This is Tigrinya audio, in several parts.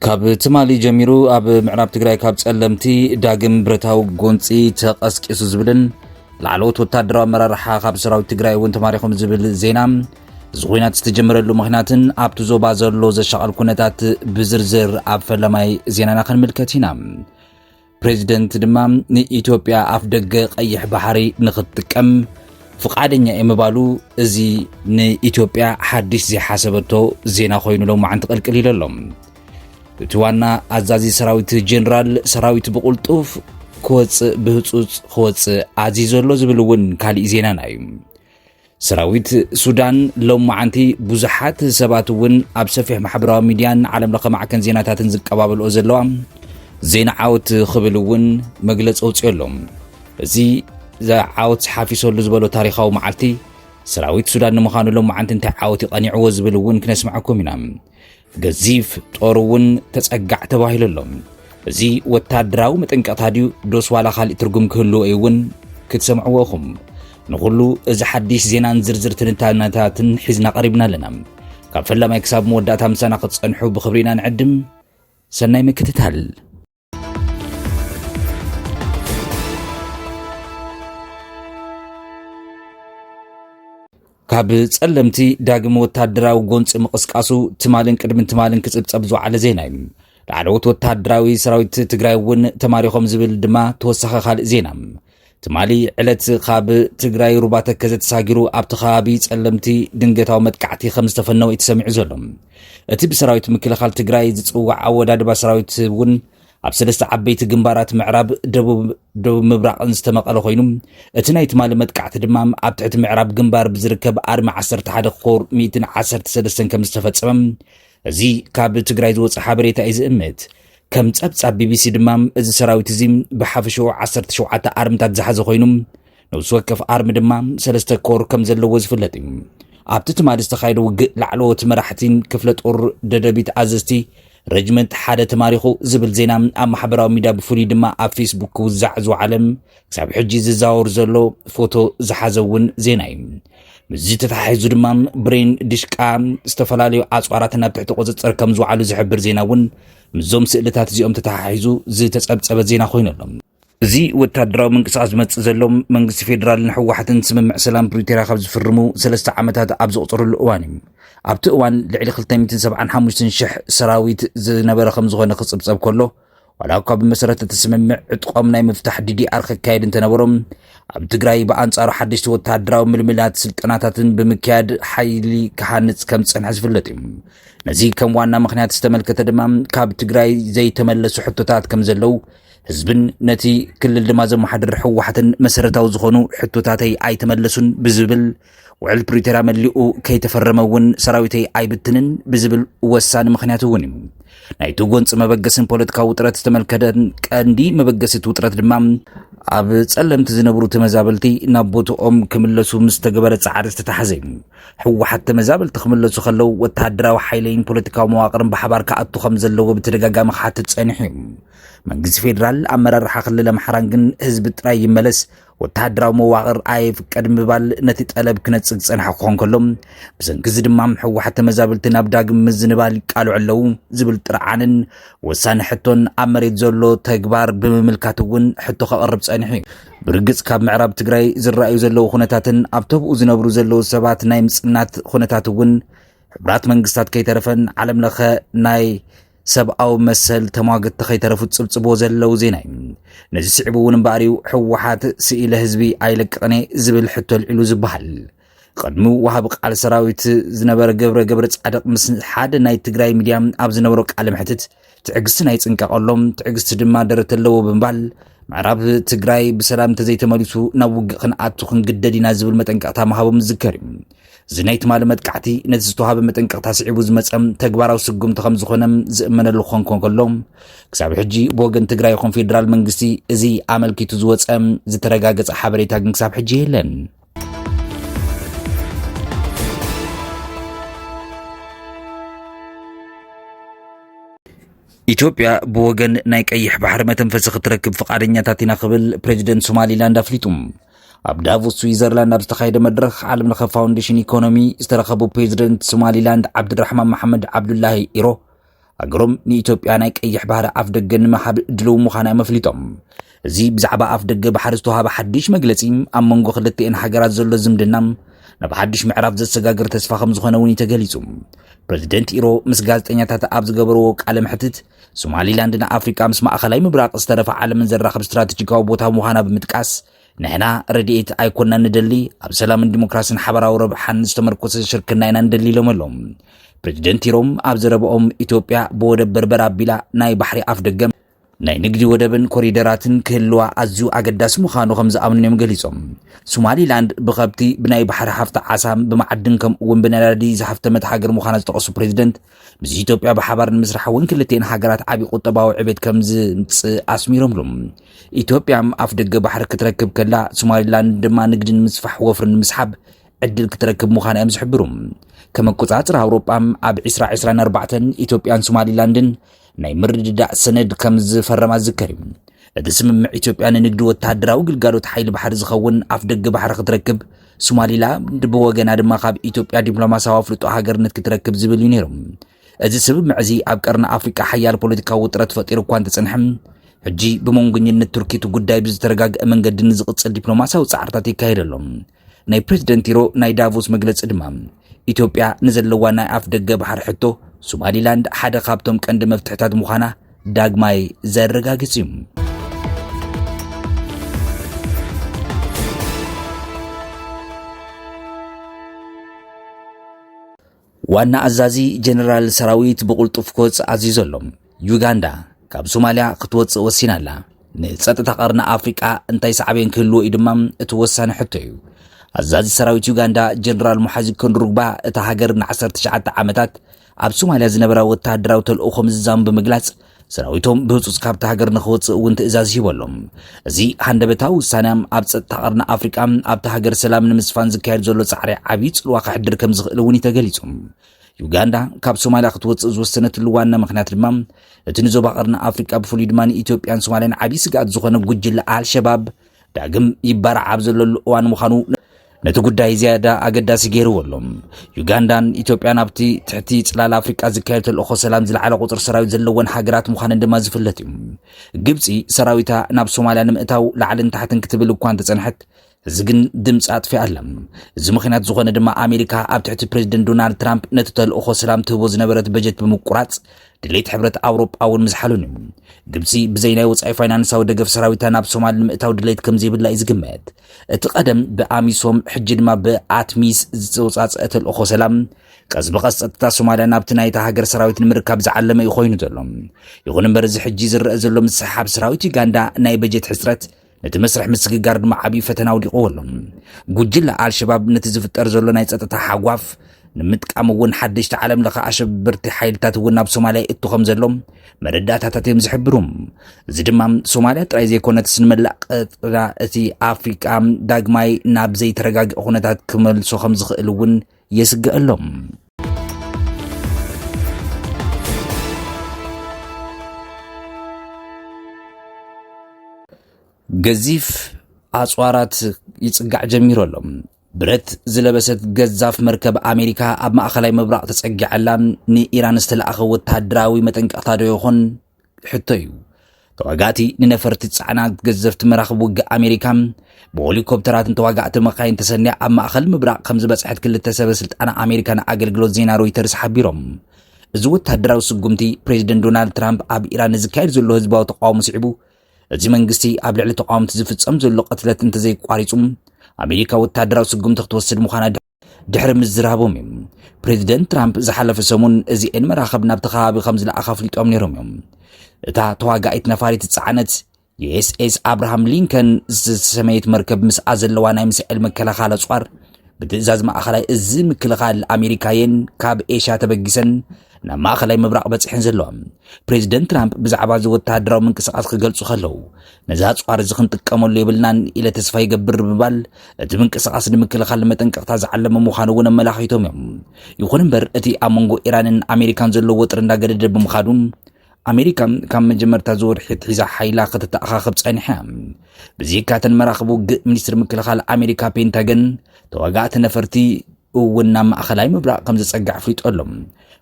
ካብ ትማሊ ጀሚሩ ኣብ ምዕራብ ትግራይ ካብ ጸለምቲ ዳግም ብረታዊ ጎንፂ ተቐስቂሱ ዝብልን ላዕለዎት ወታደራዊ ኣመራርሓ ካብ ሰራዊት ትግራይ እውን ተማሪኾም ዝብል ዜና እዚ ኹናት ዝተጀመረሉ ምኽንያትን ኣብቲ ዞባ ዘሎ ዘሻቐል ኩነታት ብዝርዝር ኣብ ፈለማይ ዜናና ክንምልከት ኢና። ፕሬዚደንት ድማ ንኢትዮጵያ ኣፍ ደገ ቀይሕ ባሕሪ ንኽትጥቀም ፍቃደኛ እየ ምባሉ እዚ ንኢትዮጵያ ሓድሽ ዘይሓሰበቶ ዜና ኮይኑ ሎማዓንቲ ቅልቅል ኢሉ ኣሎ። እቲ ዋና ኣዛዚ ሰራዊት ጄኔራል ሰራዊት ብቁልጡፍ ክወፅእ ብህፁፅ ክወፅእ ኣዚዞ ዘሎ ዝብል እውን ካሊእ ዜናና እዩ። ሰራዊት ሱዳን ሎማዓንቲ ብዙሓት ሰባት እውን ኣብ ሰፊሕ ማሕበራዊ ሚድያን ዓለም ለኸ ማዕከን ዜናታትን ዝቀባበልኦ ዘለዋ ዜና ዓወት ክብል እውን መግለፂ ኣውፅኦ ኣሎ እዚ ዓወት ሓፊሰሉ ዝበሎ ታሪካዊ መዓልቲ ሰራዊት ሱዳን ንምዃኑ ሎም መዓልቲ እንታይ ዓወት ይቐኒዕዎ ዝብል እውን ክነስምዐኩም ኢና ገዚፍ ጦር እውን ተጸጋዕ ተባሂሉ ኣሎ። እዚ ወታደራዊ መጠንቀቕታ ድዩ ዶስ ዋላ ካልእ ትርጉም ክህልዎ እዩ እውን ክትሰምዕዎ ኢኹም። ንኹሉ እዚ ሓድሽ ዜናን ዝርዝር ትንታነታትን ሒዝና ቀሪብና ኣለና። ካብ ፈላማይ ክሳብ መወዳእታ ምሳና ክትጸንሑ ብኽብሪ ኢና ንዕድም። ሰናይ ምክትታል። ካብ ጸለምቲ ዳግም ወታደራዊ ጎንፂ ምቕስቃሱ ትማልን ቅድሚ ትማልን ክጽብጸብ ዝወዓለ ዜና እዩ ላዕለዎት ወታደራዊ ሰራዊት ትግራይ እውን ተማሪኾም ዝብል ድማ ተወሳኺ ካልእ ዜና ትማሊ ዕለት ካብ ትግራይ ሩባ ተከዘ ተሳጊሩ ኣብቲ ከባቢ ጸለምቲ ድንገታዊ መጥቃዕቲ ከም ዝተፈነወ እዩ ተሰሚዑ ዘሎ እቲ ብሰራዊት ምክልኻል ትግራይ ዝጽዋዕ ኣወዳድባ ሰራዊት እውን ኣብ ሰለስተ ዓበይቲ ግንባራት ምዕራብ ደቡብ ደቡብ ምብራቕን ዝተመቐለ ኮይኑ እቲ ናይ ትማሊ መጥቃዕቲ ድማ ኣብ ትሕቲ ምዕራብ ግንባር ብዝርከብ ኣርሚ 11 ኮር 113 ከም ዝተፈፀመ እዚ ካብ ትግራይ ዝወፀ ሓበሬታ እዩ ዝእምት ከም ጸብጻብ ቢቢሲ ድማ እዚ ሰራዊት እዚ ብሓፈሽኡ 17 ኣርምታት ዝሓዘ ኮይኑ ነብሲ ወከፍ ኣርሚ ድማ ሰለስተ ኮር ከም ዘለዎ ዝፍለጥ እዩ ኣብቲ ትማሊ ዝተኻየደ ውግእ ላዕለዎት መራሕቲን ክፍለ ጦር ደደቢት ኣዘዝቲ ረጅመንት ሓደ ተማሪኹ ዝብል ዜና ኣብ ማሕበራዊ ሚድያ ብፍሉይ ድማ ኣብ ፌስቡክ ክውዛዕ ዝወዓለ ክሳብ ሕጂ ዝዛወር ዘሎ ፎቶ ዝሓዘ እውን ዜና እዩ ምስዚ ተተሓሒዙ ድማ ብሬን ድሽቃ ዝተፈላለዩ ኣፅዋራት ናብ ትሕቲ ቁፅፅር ከም ዝውዓሉ ዝሕብር ዜና እውን ምስዞም ስእልታት እዚኦም ተተሓሒዙ ዝተፀብፀበ ዜና ኮይኑ ኣሎ እዚ ወታደራዊ ምንቅስቃስ ዝመፅእ ዘሎ መንግስቲ ፌዴራልን ህወሓትን ስምምዕ ሰላም ፕሪቶርያ ካብ ዝፍርሙ ሰለስተ ዓመታት ኣብ ዘቑፅርሉ እዋን እዩ ኣብቲ እዋን ልዕሊ 275 ሽሕ ሰራዊት ዝነበረ ከም ዝኾነ ክፅብፀብ ከሎ ዋላ እኳ ብመሰረት እቲ ስምምዕ ዕጥቆም ናይ ምፍታሕ ዲዲኣር ክካየድ እንተነበሮም ኣብ ትግራይ ብኣንጻሩ ሓደሽቲ ወተሃደራዊ ምልምላት ስልጠናታትን ብምክያድ ሓይሊ ክሃንጽ ከም ዝጸንሐ ዝፍለጥ እዩ ነዚ ከም ዋና ምክንያት ዝተመልከተ ድማ ካብ ትግራይ ዘይተመለሱ ሕቶታት ከም ዘለው ህዝብን ነቲ ክልል ድማ ዘመሓድር ህወሓትን መሰረታዊ ዝኾኑ ሕቶታተይ ኣይተመለሱን ብዝብል ውዕል ፕሪቶርያ መሊኡ ከይተፈረመ እውን ሰራዊተይ ኣይብትንን ብዝብል ወሳኒ ምክንያት እውን እዩ ናይቲ ጎንፂ መበገስን ፖለቲካዊ ውጥረት ዝተመልከተን ቀንዲ መበገሲ እቲ ውጥረት ድማ ኣብ ጸለምቲ ዝነብሩ ተመዛበልቲ ናብ ቦትኦም ክምለሱ ምስ ተገበረ ጻዕሪ ዝተታሕዘ እዩ ህወሓት ተመዛበልቲ ክምለሱ ከለው ወተሃደራዊ ሓይለይን ፖለቲካዊ መዋቕርን ብሓባር ክኣቱ ከም ዘለዎ ብተደጋጋሚ ክሓትት ጸኒሑ እዩ መንግስቲ ፌዴራል ኣመራርሓ ክልል ኣምሓራን ግን ህዝቢ ጥራይ ይመለስ ወተሃደራዊ መዋቕር ኣይፍቀድ ምባል ነቲ ጠለብ ክነጽግ ዝጸንሐ ክኾን ከሎ ብሰንኪ እዚ ድማ ሕወሓት ተመዛበልቲ ናብ ዳግም ምዝንባል ይቃልዑ ኣለዉ ዝብል ጥርዓንን ወሳኒ ሕቶን ኣብ መሬት ዘሎ ተግባር ብምምልካት እውን ሕቶ ከቕርብ ጸኒሑ እዩ ብርግጽ ካብ ምዕራብ ትግራይ ዝረኣዩ ዘለዉ ኩነታትን ኣብ ተብኡ ዝነብሩ ዘለዉ ሰባት ናይ ምጽናት ኩነታት እውን ሕቡራት መንግስታት ከይተረፈን ዓለም ለኸ ናይ ሰብኣዊ መሰል ተሟግቲ ከይተረፉ ዝጽብጽብዎ ዘለዉ ዜና እዩ ነዚ ስዒቡ እውን እምበኣር እዩ ሕወሓት ስኢለ ህዝቢ ኣይለቅቕን እየ ዝብል ሕቶ ኣልዒሉ ዝበሃል ቅድሚ ወሃቢ ቃል ሰራዊት ዝነበረ ገብረ ገብረ ጻድቕ ምስ ሓደ ናይ ትግራይ ሚድያ ኣብ ዝነበሮ ቃለ መሕትት ትዕግስቲ ናይ ጽንቀቕ ኣሎም ትዕግስቲ ድማ ደረት ኣለዎ ብምባል ምዕራብ ትግራይ ብሰላም እንተዘይተመሊሱ ናብ ውግእ ክንኣቱ ክንግደድ ኢና ዝብል መጠንቀቕታ ምሃቦም ዝዝከር እዩ እዚ ናይ ትማሊ መጥቃዕቲ ነቲ ዝተዋሃበ መጠንቀቕታ ስዒቡ ዝመፀ ተግባራዊ ስጉምቲ ከም ዝኾነ ዝእመነሉ ክኾን ከሎ ክሳብ ሕጂ ብወገን ትግራይ ይኹን ፌዴራል መንግስቲ እዚ ኣመልኪቱ ዝወፀ ዝተረጋገፀ ሓበሬታ ግን ክሳብ ሕጂ የለን። ኢትዮጵያ ብወገን ናይ ቀይሕ ባሕሪ መተንፈሲ ክትረክብ ፍቓደኛታት ኢና ክብል ፕሬዚደንት ሶማሊላንድ ኣፍሊጡ። ኣብ ዳቮስ ስዊዘርላንድ ኣብ ዝተኻየደ መድረኽ ዓለም ለኸ ፋውንዴሽን ኢኮኖሚ ዝተረኸቡ ፕሬዚደንት ሶማሊላንድ ዓብድራሕማን መሓመድ ዓብዱላሂ ኢሮ ሃገሮም ንኢትዮጵያ ናይ ቀይሕ ባህሪ ኣፍ ደገ ንምሃብ ድልው ምዃና እዮም ኣፍሊጦም። እዚ ብዛዕባ ኣፍ ደገ ባሕሪ ዝተዋሃበ ሓድሽ መግለጺ ኣብ መንጎ ክልተኤን ሃገራት ዘሎ ዝምድና ናብ ሓድሽ ምዕራፍ ዘሰጋግር ተስፋ ከም ዝኾነ እውን እዩ ተገሊጹ። ፕሬዚደንት ኢሮ ምስ ጋዜጠኛታት ኣብ ዝገበርዎ ቃለ መሕትት ሶማሊላንድ ንኣፍሪቃ ምስ ማእኸላይ ምብራቕ ዝተረፈ ዓለምን ዘራኽብ ስትራቴጂካዊ ቦታ ምዃና ብምጥቃስ ንሕና ረድኤት ኣይኮንና ንደሊ ኣብ ሰላምን ዲሞክራሲን ሓበራዊ ረብሓን ዝተመርኮሰ ሽርክና ኢና ንደሊ ኢሎም ኣሎም ፕሬዚደንት ኢሮም ኣብ ዘረብኦም ኢትዮጵያ ብወደብ በርበር ኣቢላ ናይ ባሕሪ ኣፍ ደገም ናይ ንግዲ ወደብን ኮሪደራትን ክህልዋ ኣዝዩ ኣገዳሲ ምዃኑ ከም ዝኣምኑን እዮም ገሊፆም ሶማሊላንድ ብከብቲ ብናይ ባሕሪ ሃፍቲ ዓሳም ብማዓድን ከምኡውን ብነዳዲ ዝሃፍተመት ሃገር ምዃና ዝጠቐሱ ፕሬዚደንት ምስ ኢትዮጵያ ብሓባር ንምስራሕ እውን ክልቲኤን ሃገራት ዓብዪ ቁጠባዊ ዕቤት ከም ዝምፅእ ኣስሚሮምሉ። ኢትዮጵያ ኣፍ ደገ ባሕሪ ክትረክብ ከላ ሶማሊላንድ ድማ ንግዲ ንምስፋሕ ወፍሪ ንምስሓብ ዕድል ክትረክብ ምዃን እዮም ዝሕብሩ። ከም ኣቆፃፅር ኣውሮጳ ኣብ 2024 ኢትዮጵያን ሶማሊላንድን ናይ ምርድዳእ ሰነድ ከም ዝፈረማ ዝከር እዩ። እቲ ስምምዕ ኢትዮጵያ ንንግዲ ወተሃደራዊ ግልጋሎት ሓይሊ ባሕሪ ዝኸውን ኣፍ ደገ ባሕሪ ክትረክብ፣ ሶማሊላንድ ብወገና ድማ ካብ ኢትዮጵያ ዲፕሎማሲያዊ ኣፍልጦ ሃገርነት ክትረክብ ዝብል እዩ ነይሩ። እዚ ስምምዕ እዚ ኣብ ቀርኒ ኣፍሪቃ ሓያል ፖለቲካዊ ውጥረት ፈጢሩ እኳ እንተጸንሐ ሕጂ ብመንጎኝነት ቱርኪ እቲ ጉዳይ ብዝተረጋግአ መንገዲ ንዝቕጽል ዲፕሎማሲያዊ ጻዕርታት ይካየድ ኣሎ። ናይ ፕሬዝደንት ቲሮ ናይ ዳቮስ መግለፂ ድማ ኢትዮጵያ ንዘለዋ ናይ ኣፍ ደገ ባሕሪ ሕቶ ሶማሊላንድ ሓደ ካብቶም ቀንዲ መፍትሕታት ምዃና ዳግማይ ዘረጋግፅ እዩ። ዋና ኣዛዚ ጀነራል ሰራዊት ብቕልጡፍ ክወፅእ ኣዚዙ ኣሎ። ዩጋንዳ ካብ ሶማልያ ክትወፅእ ወሲና ኣላ። ንፀጥታ ቀርኒ ኣፍሪቃ እንታይ ሳዕቤን ክህልዎ እዩ ድማ እቲ ወሳኒ ሕቶ እዩ። ኣዛዚ ሰራዊት ዩጋንዳ ጀነራል ሙሓዚ ከንድሩግባ እታ ሃገር ን19 ዓመታት ኣብ ሶማልያ ዝነበራ ወተሃደራዊ ተልእኾ ምዝዛሙ ብምግላጽ ሰራዊቶም ብህፁፅ ካብታ ሃገር ንክወፅእ እውን ትእዛዝ ሂቦ ኣሎ። እዚ ሃንደበታዊ ውሳነ ኣብ ፀጥታ ቀርኒ ኣፍሪቃ ኣብታ ሃገር ሰላም ንምስፋን ዝካየድ ዘሎ ፃዕሪ ዓብዪ ፅልዋ ከሕድር ከም ዝኽእል እውን እዩ ተገሊፁ። ዩጋንዳ ካብ ሶማሊያ ክትወፅእ ዝወሰነትሉ ዋና ምክንያት ድማ እቲ ንዞባ ቀርኒ ኣፍሪቃ ብፍሉይ ድማ ንኢትዮጵያን ሶማሊያን ዓብዪ ስግኣት ዝኾነ ጉጅለ ኣልሸባብ ዳግም ይባራዕ ኣብ ዘለሉ እዋን ምዃኑ ነቲ ጉዳይ ዝያዳ ኣገዳሲ ገይርዎ ኣሎ። ዩጋንዳን ኢትዮጵያን ኣብቲ ትሕቲ ጽላል ኣፍሪቃ ዝካየድ ተልእኾ ሰላም ዝለዓለ ቁጽሪ ሰራዊት ዘለወን ሃገራት ምዃነን ድማ ዝፍለጥ እዩ። ግብጺ ሰራዊታ ናብ ሶማልያ ንምእታው ላዕልን ታሕትን ክትብል እኳ እንተጸንሐት እዚ ግን ድምፂ ኣጥፊ ኣላ። እዚ ምክንያት ዝኾነ ድማ ኣሜሪካ ኣብ ትሕቲ ፕሬዚደንት ዶናልድ ትራምፕ ነቲ ተልእኾ ሰላም ትህቦ ዝነበረት በጀት ብምቁራፅ ድሌት ሕብረት ኣውሮጳ እውን ምዝሓሉን እዩ። ግብፂ ብዘይ ናይ ወፃኢ ፋይናንሳዊ ደገፍ ሰራዊታ ናብ ሶማል ንምእታው ድሌት ከምዘይብላ እዩ ዝግመት። እቲ ቀደም ብኣሚሶም ሕጂ ድማ ብኣትሚስ ዝተወፃፀአ ተልእኾ ሰላም ቀስ ብቐስ ጸጥታ ሶማልያ ናብቲ ናይታ ሃገር ሰራዊት ንምርካብ ዝዓለመ እዩ ኮይኑ ዘሎ ይኹን እምበር እዚ ሕጂ ዝረአ ዘሎ ምስሓብ ሰራዊት ዩጋንዳ ናይ በጀት ሕፅረት ነቲ መስርሕ ምስግጋር ድማ ዓብዪ ፈተና ውዲቕዎ ኣሎ ጉጅለ ኣልሸባብ ነቲ ዝፍጠር ዘሎ ናይ ጸጥታ ሓጓፍ ንምጥቃም እውን ሓደሽቲ ዓለም ለኸ ኣሸበርቲ ሓይልታት እውን ናብ ሶማልያ ይእቱ ከም ዘሎ መረዳእታታት እዮም ዝሕብሩ እዚ ድማ ሶማልያ ጥራይ ዘይኮነት ንመላእ ቀጥራ እቲ ኣፍሪቃ ዳግማይ ናብ ዘይተረጋግእ ኩነታት ክመልሶ ከም ዝኽእል እውን የስግአሎም ገዚፍ ኣፅዋራት ይፅጋዕ ጀሚሩ ኣሎ ብረት ዝለበሰት ገዛፍ መርከብ ኣሜሪካ ኣብ ማእኸላይ ምብራቕ ተጸጊዐላ ንኢራን ዝተለኣኸ ወተሃደራዊ መጠንቀቕታ ዶ ይኾን ሕቶ እዩ። ተዋጋእቲ ንነፈርቲ ጻዕና ገዘፍቲ መራኽብ ውግእ ኣሜሪካ ብሄሊኮፕተራትን ተዋጋእቲ መካይን ተሰንያ ኣብ ማእኸል ምብራቕ ከም ዝበጽሐት ክልተ ሰበ ስልጣን ኣሜሪካ ንኣገልግሎት ዜና ሮይተርስ ሓቢሮም። እዚ ወተሃደራዊ ስጉምቲ ፕሬዚደንት ዶናልድ ትራምፕ ኣብ ኢራን ንዝካየድ ዘሎ ህዝባዊ ተቃውሞ ስዒቡ እዚ መንግስቲ ኣብ ልዕሊ ተቃወምቲ ዝፍጸም ዘሎ ቅትለት እንተዘይቋሪጹ ኣሜሪካ ወታደራዊ ስጉምቲ ክትወስድ ምዃና ድሕሪ ምዝራቦም እዮም ፕሬዚደንት ትራምፕ ዝሓለፈ ሰሙን እዚኤን መራኸብ ናብቲ ከባቢ ከም ዝለኣኻ ኣፍሊጦም ነይሮም እዮም እታ ተዋጋኢት ነፋሪት ዝፀዓነት የኤስኤስ ኣብርሃም ሊንከን ዝተሰመየት መርከብ ምስኣ ዘለዋ ናይ ሚሳኤል መከላኸሊ ኣፅዋር ብትእዛዝ ማእኸላይ እዚ ምክልኻል ኣሜሪካየን ካብ ኤሽያ ተበጊሰን ናብ ማእኸላይ ምብራቕ በፂሐን ዘለዋ ፕሬዚደንት ትራምፕ ብዛዕባ እዚ ወተሃደራዊ ምንቅስቓስ ክገልጹ ከለው ነዚ ኣፅዋር እዚ ክንጥቀመሉ የብልናን ኢለ ተስፋ ይገብር ብምባል እቲ ምንቅስቓስ ንምክልኻል መጠንቀቕታ ዝዓለመ ምዃኑ እውን ኣመላኺቶም እዮም። ይኹን እምበር እቲ ኣብ መንጎ ኢራንን ኣሜሪካን ዘሎ ወጥሪ እንዳገደደ ብምኻዱ ኣሜሪካ ካብ መጀመርታ ዝወርሒ ትሒዛ ሓይላ ከተተኣኻኽብ ጸኒሐ ብዘይካተን መራኽብ ውግእ ሚኒስትሪ ምክልኻል ኣሜሪካ ፔንታገን ተዋጋእቲ ነፈርቲ እውን ናብ ማእኸላይ ምብራቕ ከም ዝፀግዕ ኣፍሊጡ ኣሎ።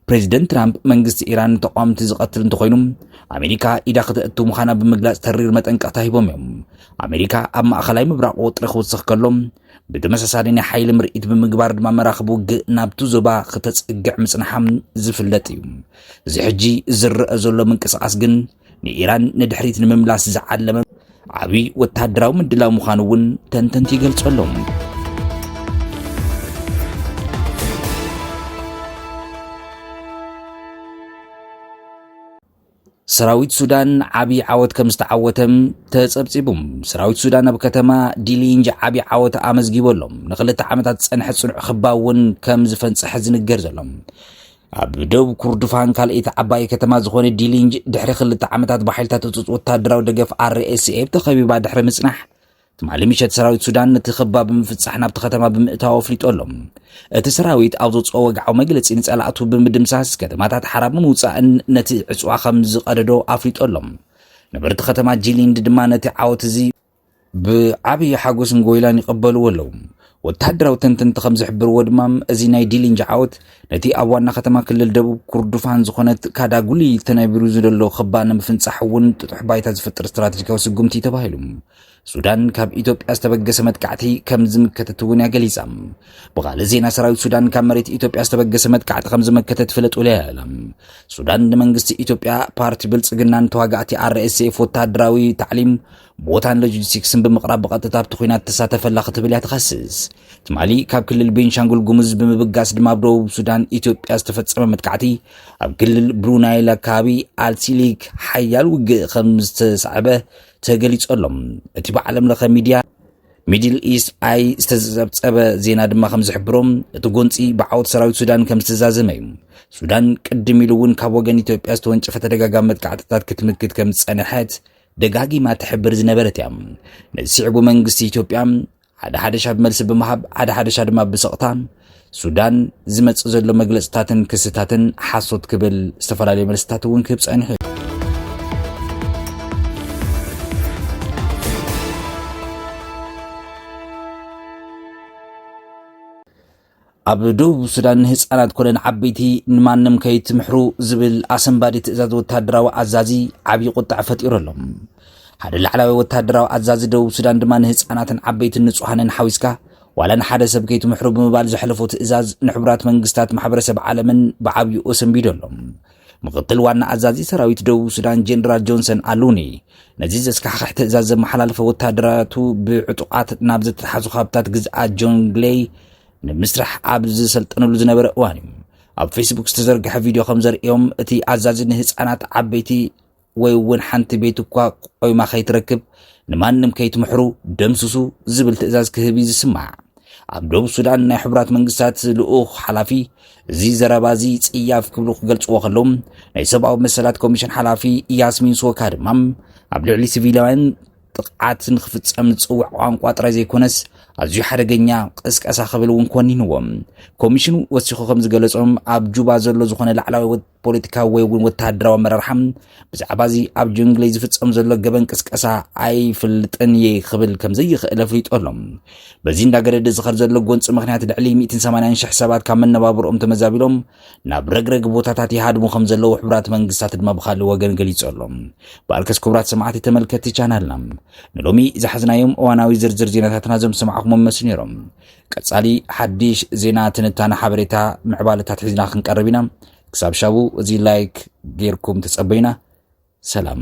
ፕሬዚደንት ትራምፕ መንግስቲ ኢራን ንተቃወምቲ ዝቐትል እንተኾይኑ ኣሜሪካ ኢዳ ክተእቱ ምዃና ብምግላፅ ተሪር መጠንቀቕታ ሂቦም እዮም። ኣሜሪካ ኣብ ማእኸላይ ምብራቕ ወጥሪ ክውስኽ ከሎ ብተመሳሳሊ ናይ ሓይሊ ምርኢት ብምግባር ድማ መራኽብ ውግእ ናብቲ ዞባ ክተፀግዕ ምፅንሓም ዝፍለጥ እዩ። እዚ ሕጂ ዝረአ ዘሎ ምንቅስቓስ ግን ንኢራን ንድሕሪት ንምምላስ ዝዓለመ ዓብዪ ወታደራዊ ምድላው ምዃኑ እውን ተንተንቲ ይገልጹ ኣለዉ። ሰራዊት ሱዳን ዓብዪ ዓወት ከም ዝተዓወተም ተጸብጺቡ ሰራዊት ሱዳን ኣብ ከተማ ዲሊንጅ ዓብዪ ዓወት ኣመዝጊቡ ኣሎ ንክልተ ዓመታት ዝጸንሐ ጽኑዕ ክባ እውን ከም ዝፈንጸሐ ዝንገር ዘሎ ኣብ ደቡብ ኩርዱፋን ካልኣይቲ ዓባይ ከተማ ዝኾነ ዲሊንጅ ድሕሪ ክልተ ዓመታት ብሓይልታት ህፁፅ ወታደራዊ ደገፍ RSF ተኸቢባ ድሕሪ ምጽናሕ ትማሊ ምሸት ሰራዊት ሱዳን ነቲ ከባ ብምፍጻሕ ናብቲ ከተማ ብምእታው ኣፍሊጦ ኣሎ እቲ ሰራዊት ኣብ ዘውፅኦ ወግዓዊ መግለፂ ንፀላእቱ ብምድምሳስ ከተማታት ሓራብ ንምውፃእን ነቲ ዕፅዋ ከም ዝቐደዶ ኣፍሊጦ ኣሎ ነበርቲ ከተማ ጂሊንድ ድማ ነቲ ዓወት እዚ ብዓብዪ ሓጎስን ጎይላን ይቐበልዎ ኣለዉ። ወተሃደራዊ ተንተንቲ ከም ዝሕብርዎ ድማ እዚ ናይ ዲሊንጅ ዓወት ነቲ ኣብ ዋና ከተማ ክልል ደቡብ ኩርዱፋን ዝኾነት ካዳጉሊ ተነቢሩ ዝደሎ ክባ ንምፍንጻሕ እውን ጥጡሕ ባይታ ዝፈጥር ስትራቴጂካዊ ስጉምቲ ተባሂሉ ሱዳን ካብ ኢትዮጵያ ዝተበገሰ መጥቃዕቲ ከም ዝምከተት እውን እያ ገሊጻ። ብኻልእ ዜና ሰራዊት ሱዳን ካብ መሬት ኢትዮጵያ ዝተበገሰ መጥቃዕቲ ከም ዝመከተት ፍለጥ ውለያ ኣላ። ሱዳን ንመንግስቲ ኢትዮጵያ፣ ፓርቲ ብልጽግናን ተዋጋእቲ ኣርኤስኤፍ ወተሃደራዊ ታዕሊም ቦታን ሎጂስቲክስን ብምቕራብ ብቐጥታ ኣብቲ ኩናት ተሳተፈ ኣላ ክትብል እያ ትኸስስ። ትማሊ ካብ ክልል ቤንሻንጉል ጉሙዝ ብምብጋስ ድማ ኣብ ደቡብ ሱዳን ኢትዮጵያ ዝተፈጸመ መጥቃዕቲ ኣብ ክልል ብሩናይል ኣካባቢ ኣልሲሊግ ሓያል ውግእ ከም ዝተሳዕበ ተገሊጹ ኣሎ። እቲ ብዓለም ለኸ ሚድያ ሚድል ኢስት ኣይ ዝተጸብጸበ ዜና ድማ ከም ዝሕብሮ እቲ ጎንፂ ብዓወት ሰራዊት ሱዳን ከም ዝተዛዘመ እዩ። ሱዳን ቅድም ኢሉ እውን ካብ ወገን ኢትዮጵያ ዝተወንጨፈ ተደጋጋሚ መጥቃዕትታት ክትምክት ከም ዝጸንሐት ደጋጊማ ትሕብር ዝነበረት እያ። ነዚ ስዕቡ መንግስቲ ኢትዮጵያ ሓደ ሓደሻ ብመልሲ ብምሃብ ሓደ ሓደሻ ድማ ብስቕታ ሱዳን ዝመጽእ ዘሎ መግለጽታትን ክስታትን ሓሶት ክብል ዝተፈላለዩ መልስታት እውን ክህብ ጸኒሑ እዩ ኣብ ደቡብ ሱዳን ንህፃናት ኮነ ንዓበይቲ ንማንም ከይትምሕሩ ዝብል ኣሰንባዲ ትእዛዝ ወታደራዊ ኣዛዚ ዓብዪ ቁጣዕ ፈጢሩ ኣሎ። ሓደ ላዕላዊ ወታደራዊ ኣዛዚ ደቡብ ሱዳን ድማ ንህፃናትን ዓበይትን ንጹሃንን ሓዊስካ ዋላ ንሓደ ሰብ ከይትምሕሩ ብምባል ዘሕለፎ ትእዛዝ ንሕቡራት መንግስታት ማሕበረሰብ ዓለምን ብዓብይኡ ሰንቢዱ ኣሎ ምክትል ዋና ኣዛዚ ሰራዊት ደቡብ ሱዳን ጀነራል ጆንሰን ኣሉኒ ነዚ ዘስካሕክሕ ትእዛዝ ዘመሓላለፈ ወታደራቱ ብዕጡቓት ናብ ዝተተሓዙ ካብታት ግዝኣት ጆንግሌይ ንምስራሕ ኣብ ዝሰልጠነሉ ዝነበረ እዋን እዩ ኣብ ፌስቡክ ዝተዘርግሐ ቪድዮ ከም ዘርእዮም እቲ ኣዛዚ ንህፃናት ዓበይቲ ወይ እውን ሓንቲ ቤት እኳ ቆይማ ከይትረክብ ንማንም ከይትምሕሩ ደምስሱ ዝብል ትእዛዝ ክህብ እዩ ዝስማዕ። ኣብ ደቡብ ሱዳን ናይ ሕቡራት መንግስታት ልኡኽ ሓላፊ እዚ ዘረባ እዚ ጽያፍ ክብሉ ክገልጽዎ ከለዉ ናይ ሰብኣዊ መሰላት ኮሚሽን ሓላፊ ያስሚን ሶካ ድማ ኣብ ልዕሊ ሲቪላውያን ጥቕዓት ንክፍጸም ዝጽውዕ ቋንቋ ጥራይ ዘይኮነስ ኣዝዩ ሓደገኛ ቅስቀሳ ክብል እውን ኮኒንዎም ኮሚሽኑ ወሲኹ ከም ዝገለጾም ኣብ ጁባ ዘሎ ዝኾነ ላዕላዊ ፖለቲካዊ ወይ እውን ወተሃደራዊ ኣመራርሓ ብዛዕባ እዚ ኣብ ጅንግለይ ዝፍፀም ዘሎ ገበን ቅስቀሳ ኣይፍልጥን እየ ክብል ከምዘይኽእል ኣፍሊጡ ኣሎ በዚ እንዳገደደ ዝኸር ዘሎ ጎንፂ ምክንያት ልዕሊ 180 ሽሕ ሰባት ካብ መነባብሮኦም ተመዛቢሎም ናብ ረግረግ ቦታታት ይሃድሙ ከም ዘለዉ ሕቡራት መንግስታት ድማ ብካልእ ወገን ገሊጹ ኣሎ በኣልከስ ክቡራት ሰማዕቲ ተመልከቲ ቻናልና ንሎሚ ዝሓዝናዮም እዋናዊ ዝርዝር ዜናታትና ዞም ሰማዕኹሞም መስሉ ነይሮም ቀጻሊ ሓዲሽ ዜና ትንታነ ሓበሬታ ምዕባለታት ሒዝና ክንቀርብ ኢና ክሳብ ሻቡ እዚ ላይክ ጌርኩም ተጸበዩና ሰላም